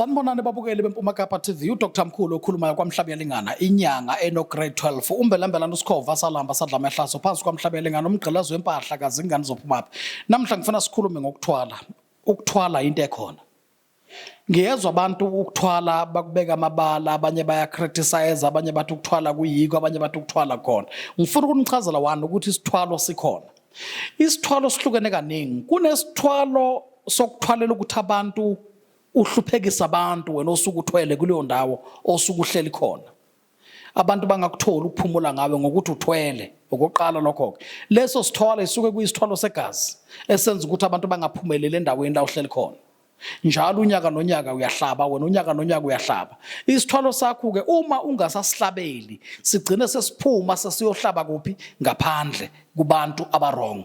Sanibonani babukeli beMpuma Kapa TV uDr Mkhulu okhulumayo kwaMhlaba yalingana inyanga eno grade 12 umbelambela nosikhova salamba sadla amahlaso phansi kwaMhlaba yalingana umgqilazo wempahla kazingani zophumaphi namhla ngifuna sikhulume ngokuthwala ukuthwala into ekhona Ngiyezwa abantu ukuthwala bakubeka amabala abanye bayacriticize abanye bathi ukuthwala kuyiko abanye bathi ukuthwala khona ngifuna ukuthi nichazela wani ukuthi isithwalo sikhona isithwalo sihlukene kaningi kunesithwalo sokuthwalela ukuthi abantu uhluphekisa abantu wena osuke uthwele kuleyo ndawo osuke uhleli khona abantu bangakutholi ukuphumula ngawe ngokuthi uthwele okokuqala lokho-ke leso sithwalo isuke kuyisithwalo segazi esenza ukuthi abantu bangaphumeleli endaweni la uhleli khona njalo unyaka nonyaka uyahlaba wena unyaka nonyaka uyahlaba isithwalo sakho-ke uma ungasasihlabeli sigcine sesiphuma sesiyohlaba kuphi ngaphandle kubantu abarong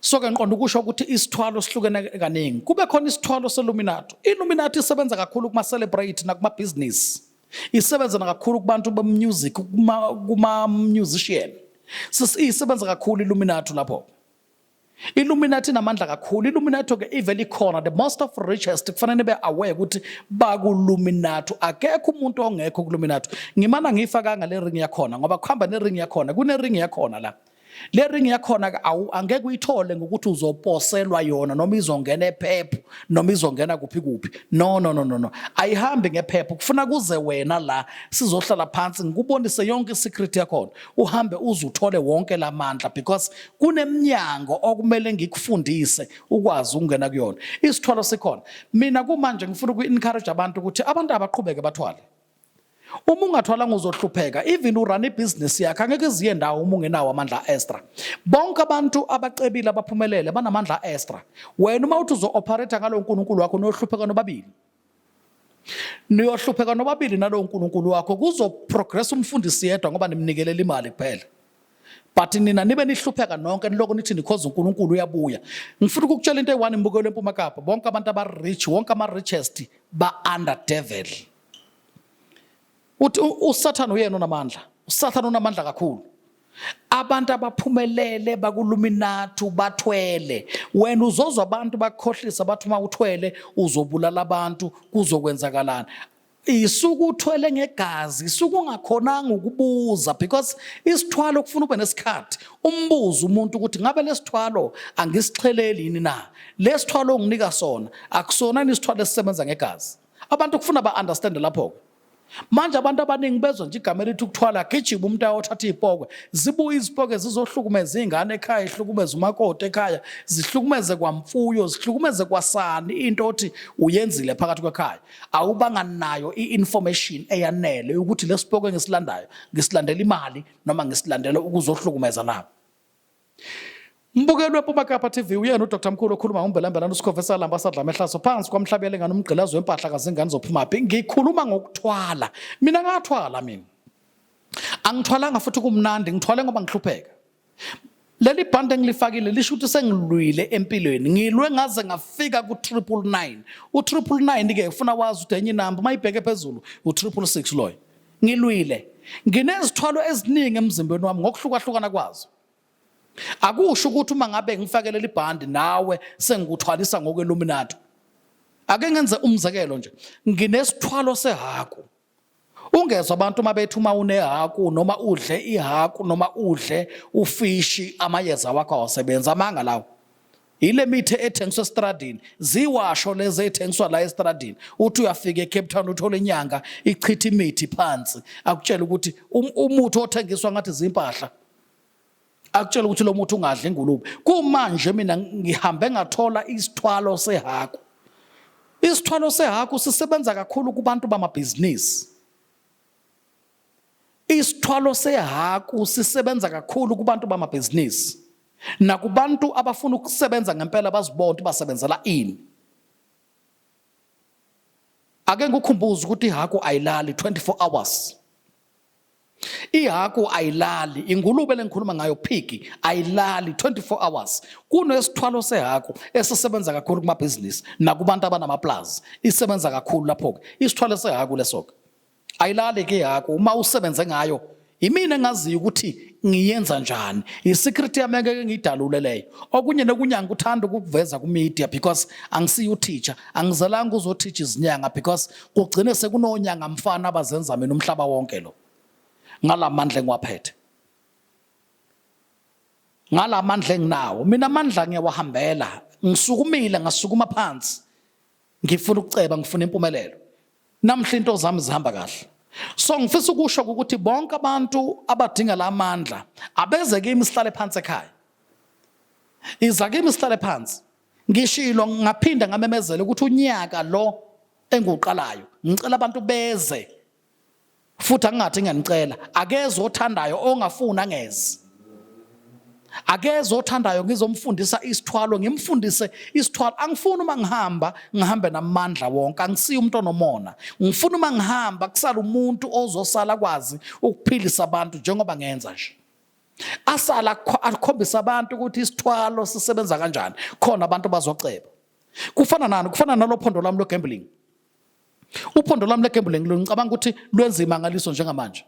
so ke ngiqonda ukusho ukuthi isithwalo sihlukene kaningi kube khona isithwalo seluminato iluminato isebenza kakhulu kuma-celebrate nakumabhizinisi isebenza nakakhulu kubantu bemusic kuma-musician isebenza kakhulu iluminato lapho Illuminati inamandla kakhulu Illuminati ke ivele ikhona the most of richest kufanele nibe aware ukuthi bakuluminati akekho umuntu ongekho kuluminati ngimana ngifa kanga le ring yakhona ngoba kuhamba ne ring yakhona kune ring yakhona la le ring yakhona ke awu angeke uyithole ngokuthi uzoposelwa yona noma izongena ephepho noma izongena kuphi kuphi no no no no no ayihambi ngephepho kufuna kuze wena la sizohlala phansi ngikubonise yonke isecret yakhona uhambe uzuthole wonke lamandla because kuneminyango okumele ngikufundise ukwazi ukungena kuyona isithwalo sikhona mina kumanje ngifuna uku encourage abantu ukuthi abantu abaqhubeke bathwale uma ungathwalanga uzohlupheka even urun ibhizinisi yakhe angeke iziye ndawo uma ungenawo amandla a-extra bonke abantu abacebile abaphumelele banamandla a-extra wena uma uthi uzo-operator ngalowo nkulunkulu wakho niyohlupheka nobabili niyohlupheka nobabili nalowo nkulunkulu wakho kuzoprogress umfundisi yedwa ngoba nimnikelela imali kuphela but nina nibe nihlupheka nonke niloko nithi nikhoza uNkulunkulu uyabuya ngifuna ukukutshela into eyi-one imbukelo empuma kapa bonke abantu aba-rich wonke ama-richest ba-under devil uthi usathane uyena onamandla usathane unamandla kakhulu abantu abaphumelele bakuluminathu bathwele wena uzozwa abantu bakhohlisa bathi uma uthwele uzobulala abantu kuzokwenzakalani isuke uthwele ngegazi isuke ungakhonanga ukubuza because isithwalo kufuna ube nesikhathi umbuzo umuntu ukuthi ngabe lesithwalo angisixheleli yini na lesithwalo onginika sona akusona isithwalo esisebenza ngegazi abantu kufuna ba-understande lapho-ke manje abantu abaningi bezwa nje igama elithi ukuthwala gijima umuntu ayothatha iy'pokwe zibuye izipokwe zizohlukumeza iy'ngane ekhaya ihlukumeze umakoti ekhaya zihlukumeze kwamfuyo zihlukumeze kwasani into othi uyenzile phakathi kwekhaya awubanga nayo i-information eyanele ukuthi lesipokwe ngisilandayo ngisilandela imali noma ngisilandela ukuzohlukumeza nabo Umbukeli wePuma Kapa TV uyena uDr Mkhulu okhuluma ngombelambelana uSikhova esalamba sadla amehlaso phansi kwamhlabele ngani umgqilazo wempahla kazingane zophumaphi ngikhuluma ngokuthwala mina ngathwala mina angithwalanga futhi kumnandi ngithwale ngoba ngihlupheka leli bhande engilifakile lisho ukuthi sengilwile empilweni ngilwe ngaze ngafika ku-triple nine u-triple nine-ke ufuna wazi ukuthi enye inamba uma ibheke phezulu u-triple six loyo Ngilwile. Nginezithwalo eziningi emzimbeni wami ngokuhlukahlukana kwazo. Akusho ukuthi uma ngabe ngifakele libhandi nawe sengikuthwalisa ngokweluminatu. Ake ngenze umzekelo nje. Nginesithwalo sehaku. Ungezwa abantu uma bethi uma unehaku noma udle ihaku noma udle ufishi amayeza wakho awasebenzi amanga lawo. yile mithi ethengiswa estradini ziwasho lezi ethengiswa la estradini uthi uyafika eCape Town uthola inyanga ichitha imithi phansi akutshela ukuthi um-, umuthi othengiswa ngathi zimpahla akutshela ukuthi lo muthi ungadla ingulube kumanje mina ngihambe ngathola isithwalo sehaku isithwalo sehaku sisebenza kakhulu kubantu bamabhizinisi Isithwalo sehaku sisebenza kakhulu kubantu bamabhizinisi nakubantu abafuna ukusebenza ngempela bazibona ukuthi basebenzela ini. Ake ngikukhumbuze ukuthi ihaku ayilali 24 hours. Ihaku ayilali, ingulube lengikhuluma ngayo phiki ayilali 24 hours. Kunesithwalo sehaku esisebenza kakhulu kumabhizinisi nakubantu abanamaplazi. Isebenza kakhulu lapho-ke. Isithwalo sehaku leso-ke. ayilali ke yakho uma usebenze ngayo yimina engaziyo ukuthi ngiyenza njani i-secret yami engeke ngiyidalule leyo okunye nokunye angikuthanda ukukuveza ku-media because angisiye uteacher angizalanga uzoteacher izinyanga because kugcine sekunonyanga mfana abazenza mina umhlaba wonke lo ngalamandla engiwaphethe ngalamandla enginawo mina amandla ngiyawahambela ngisukumile ngasukuma phansi ngifuna ukuceba ngifuna impumelelo Namhla into zami zihamba kahle. So ngifisa ukusho ukuthi bonke abantu abadinga la mandla abeze kimi sihlale phansi ekhaya. Iza kimi sihlale phansi. Ngishilo ngaphinda ngamemezela ukuthi unyaka lo enguqalayo ngicela abantu beze futhi angingathi ngiyanicela akeze othandayo ongafuni angeze akeze othandayo ngizomfundisa isithwalo ngimfundise isithwalo angifuni uma ngihamba ngihambe namandla wonke angisiye umuntu onomona ngifuna uma ngihamba kusala umuntu ozosala kwazi ukuphilisa abantu njengoba ngenza nje asala akhombisa abantu ukuthi isithwalo sisebenza kanjani khona abantu bazoceba kufana nani kufana nalophondo lami logambling Uphondo lwami legambling lo ngicabanga ukuthi lwenza imangaliso njengamanje.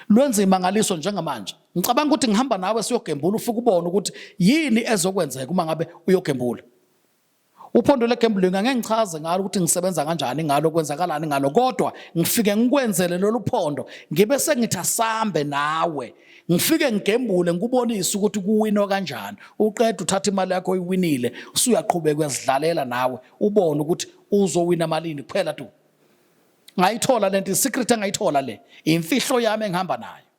Lwenza imangaliso njengamanje. Ngicabanga ukuthi ngihamba nawe siyogembula ufike ubone ukuthi yini ezokwenzeka uma ngabe uyogembula. Uphondo legambling angeke ngichaze ngalo ukuthi ngisebenza kanjani ngalo kwenzakalani ngalo kodwa ngifike ngikwenzele lolu phondo ngibe sengithi asambe nawe ngifike ngigembule ngikubonise ukuthi kuwinwa kanjani uqeda uthatha imali yakho oyiwinile usuyaqhubeka uyazidlalela nawe ubone ukuthi uzowina malini kuphela tu ngayithola le nto isecret engayithola le imfihlo yami engihamba nayo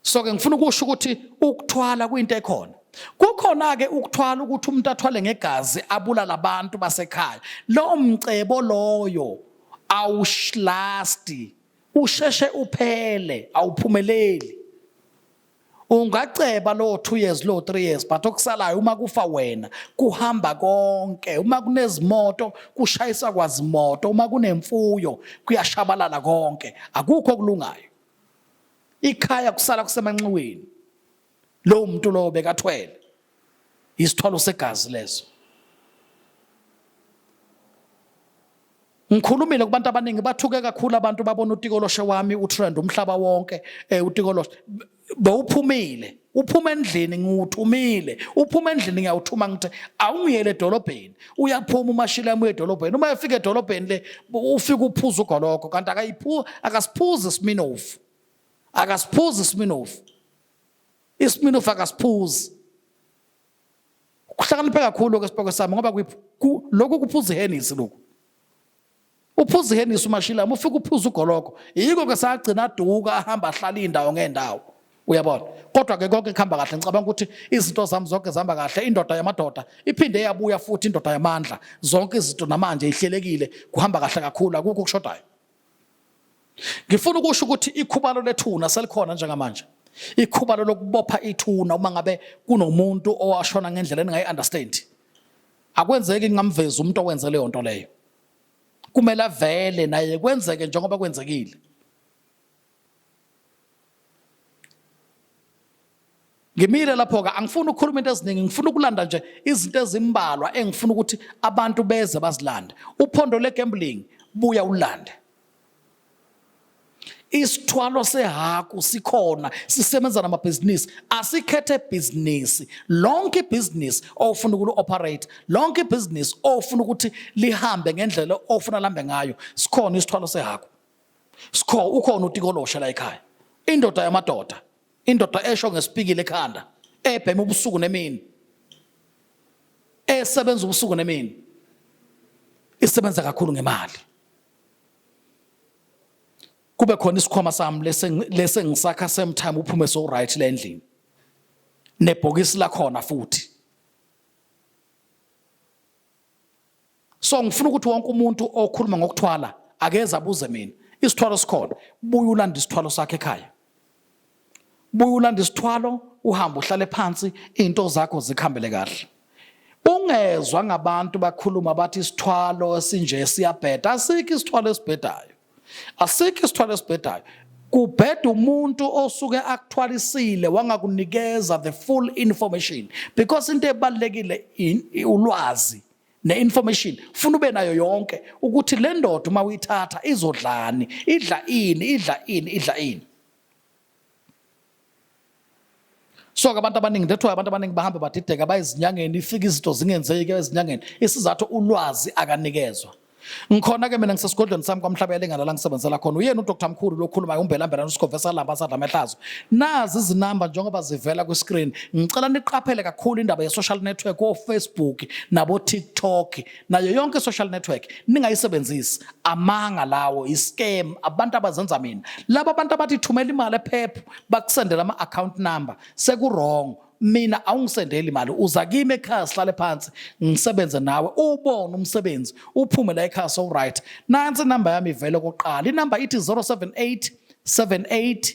so ke ngifuna ukusho ukuthi ukuthwala kuyinto ekhona kukhona ke ukuthwala ukuthi umuntu athwale ngegazi abulala abantu basekhaya lo mcebo loyo awushlasti usheshe uphele awuphumeleli ungaceba lowo 2 years lowo 3 years but okusalayo uma kufa wena kuhamba konke uma kunezimoto kushayisa kwazimoto uma kunemfuyo kuyashabalala konke akukho kulungayo ikhaya kusala kusemanxiweni lowo muntu lowo bekathwele isithwalo segazi leso ngikhulumile kubantu abaningi bathuke kakhulu abantu babona utikoloshe wami utrend umhlaba wonke eh utikoloshe bowuphumile uphuma endlini ngiwuthumile uphuma endlini ngiyawuthuma ngithe awungiyele edolobheni uyaphuma umashila yami edolobheni uma efika edolobheni le ufika uphuza ugoloko kanti akayiphu akasiphuzi siminofu akasiphuzi siminofu Isminofu akasiphuzi. Kuhlakaniphe kakhulu ke sibhoko sami ngoba lokhu kuphuza ihenisi lokhu. Uphuza ihenisi umashilama ufika uphuza ugoloko. Yiko ke sagcina aduka ahamba ahlala indawo ngendawo. Uyabona? Kodwa ke konke kuhamba kahle ngicabanga ukuthi izinto zami zonke zihamba kahle indoda yamadoda iphinde yabuya futhi indoda yamandla zonke izinto namanje ihlelekile kuhamba kahle kakhulu akukho okushodayo. Ngifuna ukusho ukuthi ikhubalo lethuna selikhona njengamanje. Ikhubalo lokubopha ithuna uma ngabe kunomuntu owashona ngendlela engayi understand. Akwenzeki ngamveza umuntu owenze leyo nto leyo. Kumele avele naye kwenzeke njengoba kwenzekile. ngimile lapho-ke angifuni ukukhuluma into eziningi ngifuna ukulanda nje izinto ezimbalwa engifuna ukuthi abantu beze bazilande uphondo legambling buya ulande isithwalo sehaku sikhona sisebenza namabhizinisi asikhethe bhizinisi lonke ibhizinisi ofuna ukuli-operate lonke ibhizinisi ofuna ukuthi lihambe ngendlela ofuna lihambe ngayo sikhona isithwalo sehaku Skho ukhona utikoloshe la ekhaya. Indoda yamadoda. Indoda esho ngesipikile ekhanda, ebhema ubusuku nemini. Esebenza ubusuku nemini. Isebenza kakhulu ngemali. Kube khona isikhwama sami lese lese ngisakha same time uphume so right la endlini. Nebhokisi lakhona futhi. so ngifuna ukuthi wonke umuntu okhuluma ngokuthwala akeze abuze mina isithwalo sikhona buye ulanda isithwalo sakhe ekhaya buye ulanda isithwalo uhambe uhlale phansi into zakho zikhambele kahle ungezwa ngabantu bakhuluma bathi isithwalo esinje siyabheda asikho isithwalo esibhedayo asikho isithwalo esibhedayo kubheda umuntu osuke akuthwalisile wangakunikeza the full information because into ebalekile ulwazi ne-information funa ube nayo yonke ukuthi le ndoda uma uyithatha izodlani idla ini idla ini idla ini so ke abantu abaningi that's why abantu abaningi bahambe badideka bayizinyangeni ifike izinto zingenzeki ezinyangeni isizathu ulwazi akanikezwa ngikhona ke mina ngisesigodlweni sami kwamhlaba yalengana la ngisebenzela khona uyena udr mkhulu lokhulumayo umbelambelana usikhove salamba sadla amehlazo nazi izinamba njengoba zivela kwiscreen ngicela niqaphele kakhulu indaba ye-social network ofacebook nabo-tiktok nayo yonke social network ningayisebenzisi amanga lawo iscam abantu abazenza mina laba abantu abathi thumela imali ephephu bakusendela ama account number sekuwrong mina awungisendeli imali uza kimi ekhaya sihlale phansi ngisebenze nawe ubone umsebenzi uphume la ekhaya so right nansi number yami ivele koqala inumber ithi 078 78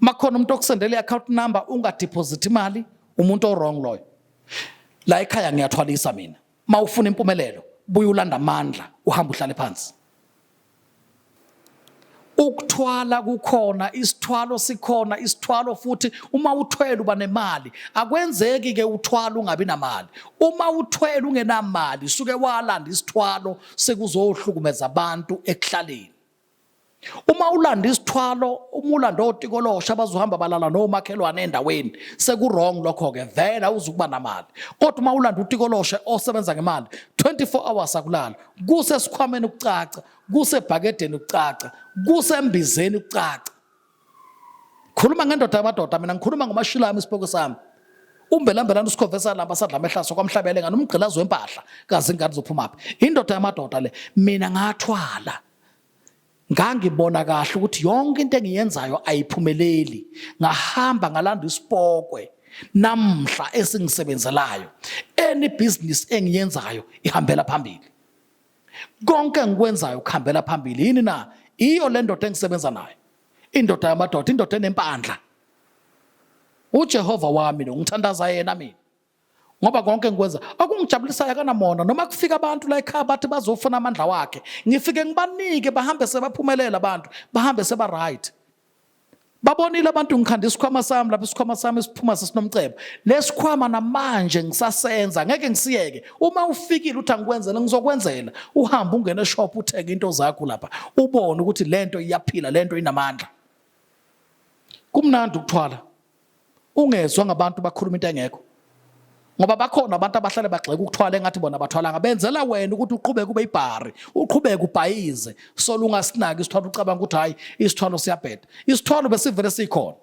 makhona umuntu okusendela i-account number ungadeposit imali umuntu owrong loyo la ekhaya ngiyathwalisa mina ma ufuna impumelelo buye ulanda amandla uhamba uhlale phansi ukuthwala kukhona isithwalo sikhona isithwalo futhi uma uthwele uba nemali akwenzeki ke uthwala ungabi namali uma uthwele ungenamali suke walanda isithwalo sekuzohlukumeza abantu ekuhlaleni uma ulanda isithwalo uma ulanda otikolosha bazohamba balala nomakhelwane endaweni sekurong lokho-ke vele awuzukuba namali kodwa uma ulanda utikoloshe osebenza ngemali 24 hours akulala kusesikhwameni ukucaca kusebhakedeni ukucaca kusembizeni ukucaca khuluma ngendoda yamadoda mina ngikhuluma ngomashilami isiboko sami umbelambelana usikhovesa lamba sadla amehlaso kwamhlabele ngani umgqilazi wempahla kazi ingane zophumaphi indoda yamadoda le mina ngathwala ngangibona kahle ukuthi yonke into engiyenzayo ayiphumeleli ngahamba ngalanda isipokwe namhla esingisebenzelayo any business engiyenzayo ihambela phambili konke engikwenzayo kuhambela phambili yini na iyo le ndoda engisebenza nayo indoda yamadoda indoda enempandla ujehova wami lo ngithandaza yena mina ngoba konke ngikwenza okungijabulisayo akanamona noma kufika abantu la ekhaya bathi bazofuna amandla wakhe ngifike ngibanike bahambe sebaphumelela abantu bahambe seba right babonile abantu ngikhanda isikhwama sami lapho isikhwama sami siphuma sesinomcebo lesikhwama namanje ngisasenza ngeke ngisiyeke uma ufikile uthi angikwenzele ngizokwenzela uhambe ungene eshop uthenge into zakho lapha ubone ukuthi lento iyaphila lento inamandla kumnandi ukuthwala ungezwa ngabantu bakhuluma into engekho ngoba bakhona abantu abahlale bagxeka ukuthwala engathi bona bathwalanga benzela wena ukuthi uqhubeke ube ibhari uqhubeke ubhayize solo ungasinaki isithwalo ucabanga ukuthi hhayi isithwalo siyabheda isithwalo besivele sikhona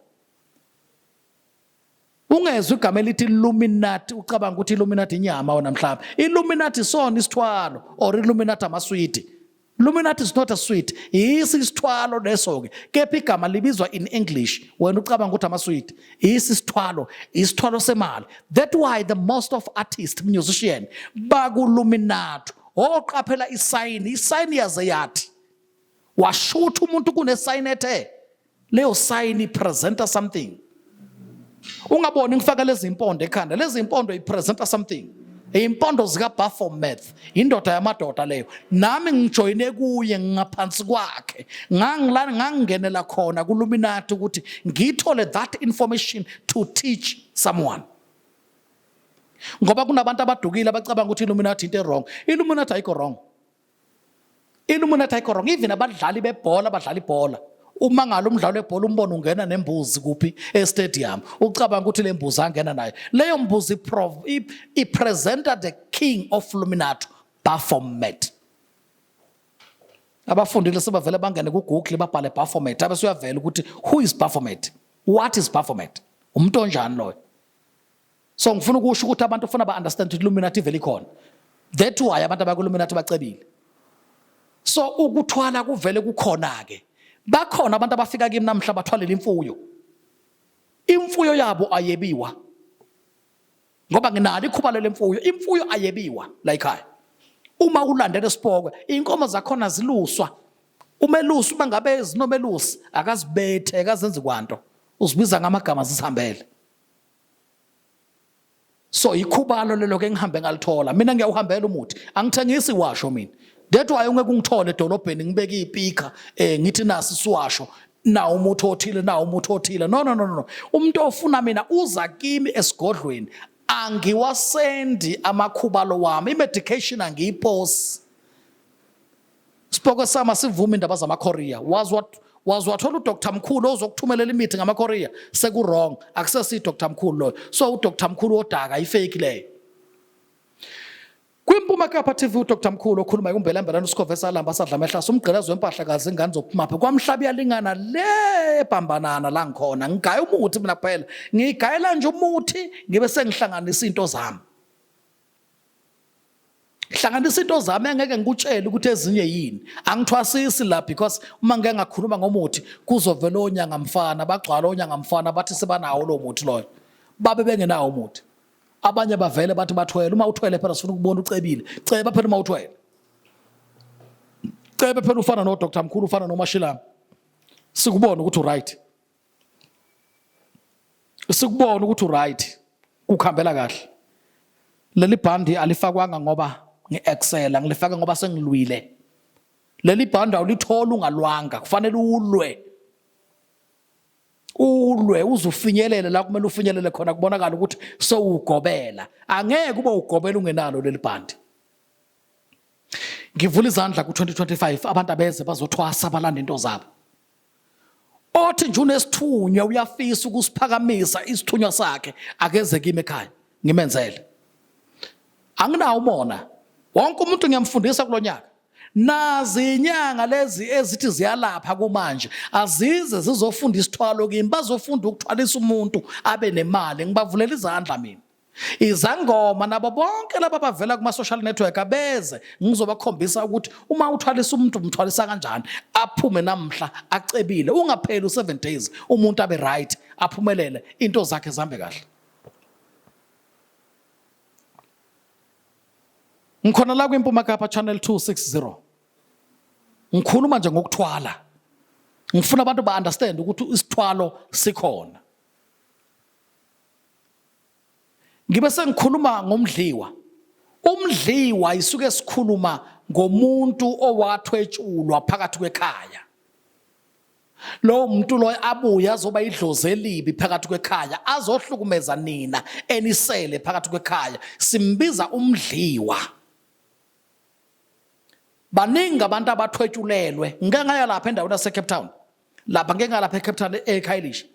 ungezwa igama elithi illuminati ucabanga ukuthi illuminati inyama wona mhlawumbe illuminati isona isithwalo or illuminati amaswidi Luminati is not a sweet. Yisi isithwalo leso ke. Kepha igama libizwa in English. Wena ucabanga ukuthi ama sweet. Yisi isithwalo, isithwalo semali. That why the most of artists, musician baku Luminati. Oqaphela oh, isayini, isayini yaze yathi. Washutha umuntu kunesayini ethe. leyo sign ipresenta something ungaboni ngifaka lezi mpondo ekhanda lezi mpondo ipresenta something impondo zikabaphomet indoda yamadoda leyo nami ngijoyine kuye ngingaphansi kwakhe ngangilana ngangingenela khona kuluminati ukuthi ngithole that information to teach someone ngoba kunabantu abadukile abacabanga ukuthi illuminati into e-wrong illuminati ayikho wrong Illuminati ayikho wrong even abadlali bebhola abadlala ibhola uma ngalo umdlalo webhola umbona ungena nembuzi kuphi estadium ucabanga ukuthi le mbuzi angena nayo leyo mbuzi ipresenta the king of luminato baphomet abafundile sebavele bangene kugoogle babhale baphomet abe suyavela ukuthi who is baphomet what is baphomet umuntu onjani loyo so ngifuna ukusho ukuthi abantu ufuna ba understand ukuthi illuminati vele ikhona that why abantu abakulluminati bacebile so ukuthwala kuvele kukhona ke bakhona abantu abafika kimi namhla bathwalela imfuyo imfuyo yabo ayebiwa ngoba nginalo ikhuba lemfuyo imfuyo ayebiwa la ekhaya uma ulandela isipokwe inkomo zakhona ziluswa umelusi uma ngabe zinomelusi akazibethe akazenzi kwanto uzibiza ngamagama zisihambele so yikhubalo lelo ke ngihambe ngalithola mina ngiyawuhambela umuthi angithengisi washo mina that why ungeke ungithole edolobheni ngibeke ipika eh ngithi nasi siwasho na umuthi othile na umuthi othile no no no no umuntu ofuna mina uza kimi esigodlweni angiwasendi amakhubalo wami imedication angiyiposi Sipoko sama sivuma indaba zamaKorea. Was what was wathola uDr Mkhulu ozokuthumelela imithi ngamaKorea seku wrong akusesi Dr Mkhulu loyo. So uDr Mkhulu odaka ifake leyo. Kwimpuma kapha TV uDr Mkhulu okhuluma ikumbela mbela uSikhove salamba sadla mehlasa umgqilazo wempahla kazi ingane zokuphumapha kwamhlaba yalingana le bhambanana la ngikhona ngigaya umuthi mina kuphela ngigayela nje umuthi ngibe sengihlanganisa into zami hlanganisa into zami engeke ngikutshele ukuthi ezinye yini angithwasisi la because uma ngeke ngakhuluma ngomuthi kuzovela onyanga mfana bagcwala onyanga mfana bathi sebanawo lo muthi loyo babe bengenawo umuthi abanye bavele bathi bathwele uma uthwele phela sifuna ukubona ucebile ceba phela uma uthwele cebe phela ufana no Dr Mkhulu ufana no Mashilama sikubona ukuthi uright sikubona ukuthi uright kukhambela kahle leli bhandi alifakwanga ngoba ngi-excela ngilifake ngoba sengilwile leli bhandi awulitholi ungalwanga kufanele ulwe ulwe uzufinyelele la kumele ufinyelele khona kubonakala ukuthi sowugobela angeke ube ugobela ungenalo leli bhandi ngivula izandla ku-2025 abantu abeze bazothwasa balanda into zabo othi nje unesithunywa uyafisa ukusiphakamisa isithunywa sakhe akeze kimi ekhaya ngimenzele anginawo umona wonke umuntu ngiyamfundisa kulo nyaka nazi inyanga lezi ezithi ziyalapha kumanje azize zizofunda isithwalo kimi bazofunda ukuthwalisa umuntu abe nemali ngibavulela izandla mina izangoma nabo bonke laba bavela kuma-social network abeze ngizobakhombisa ukuthi uma uthwalisa umuntu umthwalisa kanjani aphume namhla acebile ungapheli u-seven days umuntu abe right aphumelele into zakhe zihambe kahle ngikhona la kwimpuma kapa channel 260 ngikhuluma nje ngokuthwala ngifuna abantu ba-understand ukuthi isithwalo sikhona ngibe sengikhuluma ngomdliwa umdliwa isuke sikhuluma ngomuntu owathwetshulwa phakathi kwekhaya lowo muntu loyo abuye azoba idlozi elibi phakathi kwekhaya azohlukumeza nina enisele phakathi kwekhaya simbiza umdliwa baningi abantu abathwetshulelwe ngike ngaya lapha endaweni yasecape town lapha ngeke ngalapha eCape Town eKhayelishi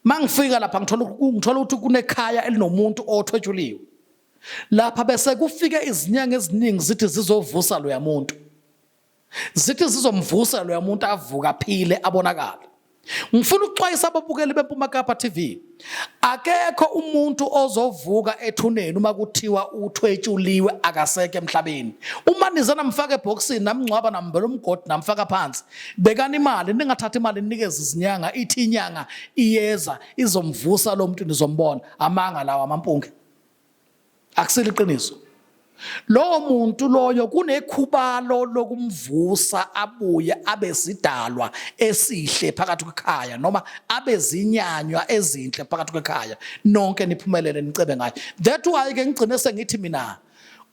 mangifika lapha ngithola ngithola ukuthi kunekhaya elinomuntu othwetshuliwe lapha bese kufike izinyanga eziningi zithi zizovusa loya muntu zithi zizomvusa loya muntu avuka phile abonakala ngifuna ukuxwayisa ababukeli beMpuma Kapa TV akekho umuntu ozovuka ethuneni uma kuthiwa uthwetshuliwe akaseke emhlabeni uma nize namfaka ebhokisini namngcwaba nambela umgodi namfaka phansi bekani imali ningathathi imali ninikeze izinyanga ithi inyanga iyeza izomvusa lo muntu nizombona amanga lawa amampunge akusile iqiniso lowo muntu loyo kunekhubalo lokumvusa abuye abe sidalwa esihle phakathi kwekhaya noma abe zinyanywa ezinhle phakathi kwekhaya nonke niphumelele nicebe ngayo that why ke ngigcine sengithi mina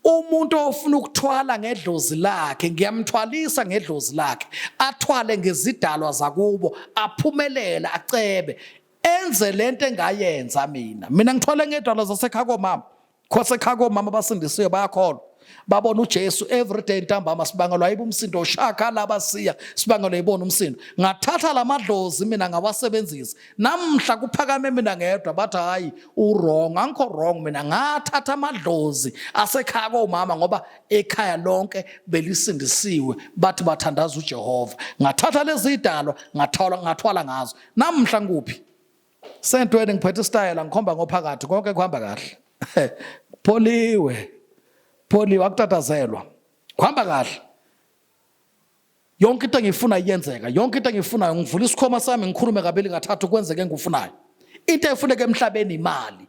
umuntu ofuna ukuthwala ngedlozi lakhe ngiyamthwalisa ngedlozi lakhe athwale ngezidalwa zakubo aphumelele acebe enze lento engayenza mina mina ngithole ngedwala zasekhaya komama khosekhaya komama abasindisiwe bayakholwa babona uJesu everyday ntambama sibangelwa yiba umsindo ushaka laba siya sibangelwa yibona umsindo ngathatha lamadlozi mina ngawasebenzisa namhla kuphakame mina ngedwa bathi hayi uwrong angikho wrong mina ngathatha amadlozi asekhaya komama ngoba ekhaya lonke belisindisiwe bathi bathandaza uJehova ngathatha lezi idalwa ngathwala ngathwala ngazo Namhla ngikuphi? Sentweni ngiphethe istayela ngikhomba ngophakathi konke kuhamba kahle. Pholiwe. Pholiwe akutatazelwa. Kuhamba kahle. Yonke into engiyifuna iyenzeka. Yonke into engiyifunayo ngivula isikhoma sami ngikhulume kabili kathathu kwenzeke engikufunayo. Into efuneka emhlabeni imali.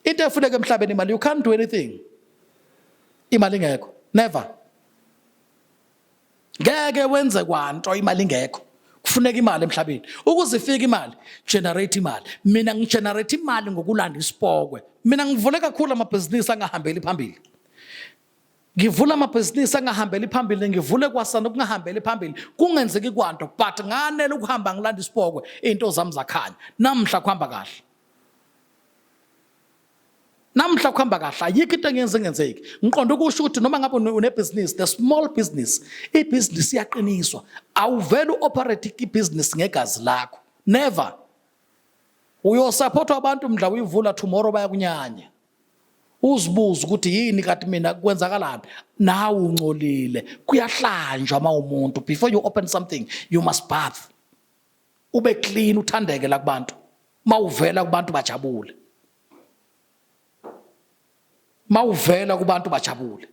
into efuneka emhlabeni imali you can't do anything imali ingekho never ngeke wenze kwanto imali ingekho kufuneka imali emhlabeni ukuze ifike imali generate imali mina ngigenerate imali ngokulanda isipokwe mina ngivule kakhulu amabhizinisi angahambeli phambili ngivula amabhizinisi angahambeli phambili ngivule kwasana okungahambeli phambili kungenzeki kwanto but nganele ukuhamba ngilanda isipokwe iy'nto zami zakhanya namhla kuhamba kahle namhla kuhamba kahle ayikho into engenze ngenzeki ngiqonda ukusho ukuthi noma ngabe unebhizinisi the small business ibhizinisi iyaqiniswa awuvele u-operate ibhizinisi ngegazi lakho never uyosaphothwa abantu mdla uyivula tomorrow bayakunyanya uzibuze ukuthi yini kati mina kwenzakalani nawe uncolile kuyahlanjwa uma umuntu before you open something you must bath ube clean uthandeke la kubantu mawuvela kubantu bajabule mawuvela kubantu bajabule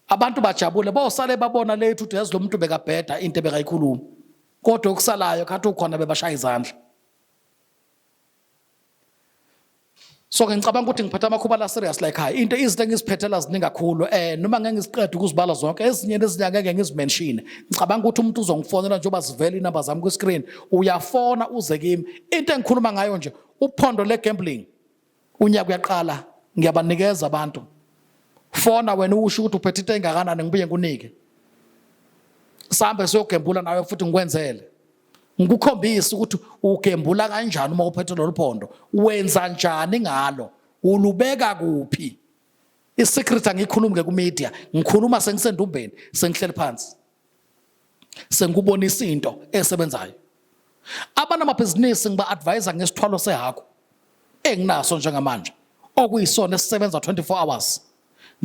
abantu bajabule bosale babona lethu ukuthi yazi lo muntu bekabheda into ebekayikhuluma kodwa okusalayo khathi ukhona bebashaya izandla so ke ngicabanga ukuthi ngiphethe amakhuba la serious like high into izinto engiziphethela ziningi kakhulu eh noma ngeke ngiziqede ukuzibala zonke ezinye nezinye ngeke ngizimenshine ngicabanga ukuthi umuntu uzongifonela njengoba zivela inamba zami kwi-screen uyafona uze kimi into engikhuluma ngayo nje uphondo le-gambling unyaka uyaqala ngiyabanikeza abantu fona wena usho ukuthi uphethe into engakanani ngibuye ngikunike sambe siyogembula nawe futhi ngikwenzele ngikukhombise ukuthi ugembula kanjani uma uphethe lolu phondo wenza njani ngalo ulubeka kuphi isecret angikhulumi ke kumedia ngikhuluma sengisendumbeni sengihleli phansi sengikubonisa into esebenzayo abanamabhizinisi ngiba-advayisa ngesithwalo sehaku enginaso njengamanje okuyisona esisebenza 24 hours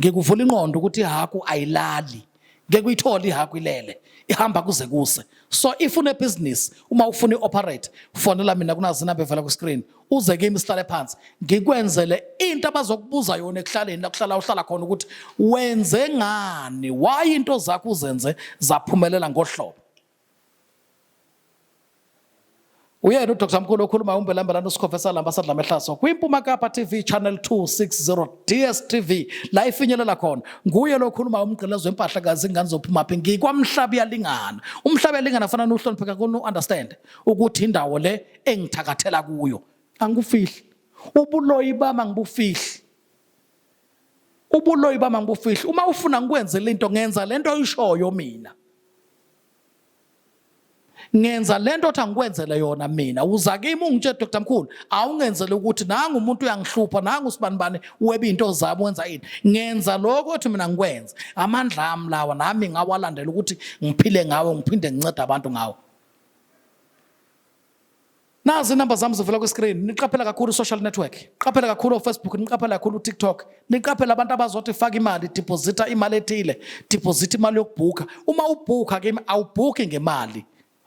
ngikuvula inqondo ukuthi ihaku ayilali ngeke uyithole ihaku ilele ihamba kuze kuse so if unebhizinisi uma ufuna i-operate fonela mina kunazinamba evela kwi-screen uze kimi sihlale phansi ngikwenzele into abazokubuza yona ekuhlaleni lakuhlala uhlala khona ukuthi wenze ngani why into zakho uzenze zaphumelela ngohlobo uyena udr mkhulu okhuluma umbelambela nosikhova esalamba sadla mehlaso kwimpuma kapa tv channel 260 dstv la ifinyelela khona nguye lo okhuluma umgqilezo wempahla kazi ingane zophuma phi ngikwamhlaba iyalingana umhlaba yalingana fanana uhlonipheka kuni understand ukuthi indawo le engithakathela kuyo angikufihli ubuloyi bami angibufihli ubuloyi bami angibufihli uma ufuna ngikwenzele into ngenza lento oyishoyo mina ngenza lento othi angikwenzele yona mina uza kimi ungitshe Dr Mkhulu awungenzele ukuthi nangu umuntu uyangihlupha nangu sibani bani webe into zabo wenza yini ngenza lokho othi mina ngikwenze amandla ami lawa nami ngawalandela ukuthi ngiphile ngawo ngiphinde ngincede abantu ngawo nazi inamba zami zivela kwiscreen niqaphela kakhulu social network qaphela kakhulu ofacebook niqaphela kakhulu utiktok niqaphela abantu abazothi faka imali deposita imali ethile deposita imali yokubhukha uma ubhukha kimi awubhukhi ngemali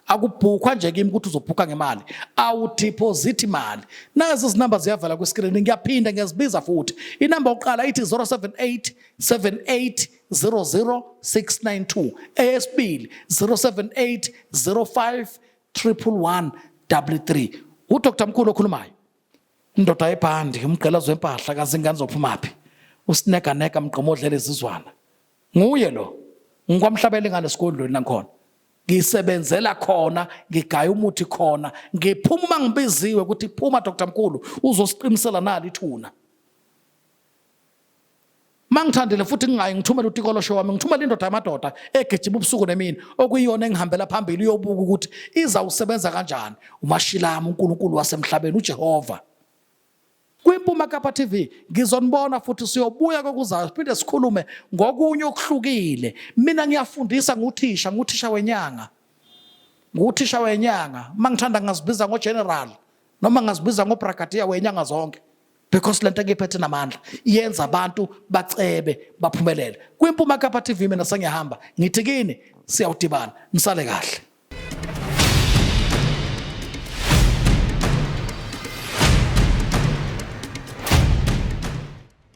akubhukwa nje kimi ukuthi uzobhukha ngemali awudeposit imali nazi izinamba ziyavala kwiscreen ngiyaphinda ngiyazibiza futhi inamba yokuqala ithi 078 78 00692 eyesibili 078 05 triple one double three udr mkhulu okhulumayo indoda yebhandi umgqela zwempahla kazingane zophumaphi usineganeka mgqomo odlela izizwana nguye lo ngikwamhlabela ingane esigodlweni langikhona ngisebenzela khona ngigaya umuthi khona ngiphuma uma ngibiziwe ukuthi phuma dr mkhulu uzosiqinisela nali ithuna mangithandile futhi ngingayi ngithumele utikolosho wami ngithumele indoda yamadoda egijima ubusuku nemini okuyiyona engihambela phambili uyobuka ukuthi izawusebenza kanjani umashilami uNkulunkulu wasemhlabeni uJehova kwimpuma kapa TV ngizonibona futhi siyobuya kokuzayo siphinde sikhulume ngokunye okuhlukile mina ngiyafundisa nguthisha nguthisha wenyanga nguthisha wenyanga mangithanda ngazibiza ngogeneral noma ngazibiza ngobrigadier wenyanga zonke because lento engiphethe namandla yenza abantu bacebe baphumelele kwimpuma kapha TV mina sengiyahamba ngithi kini siyawudibana nisale kahle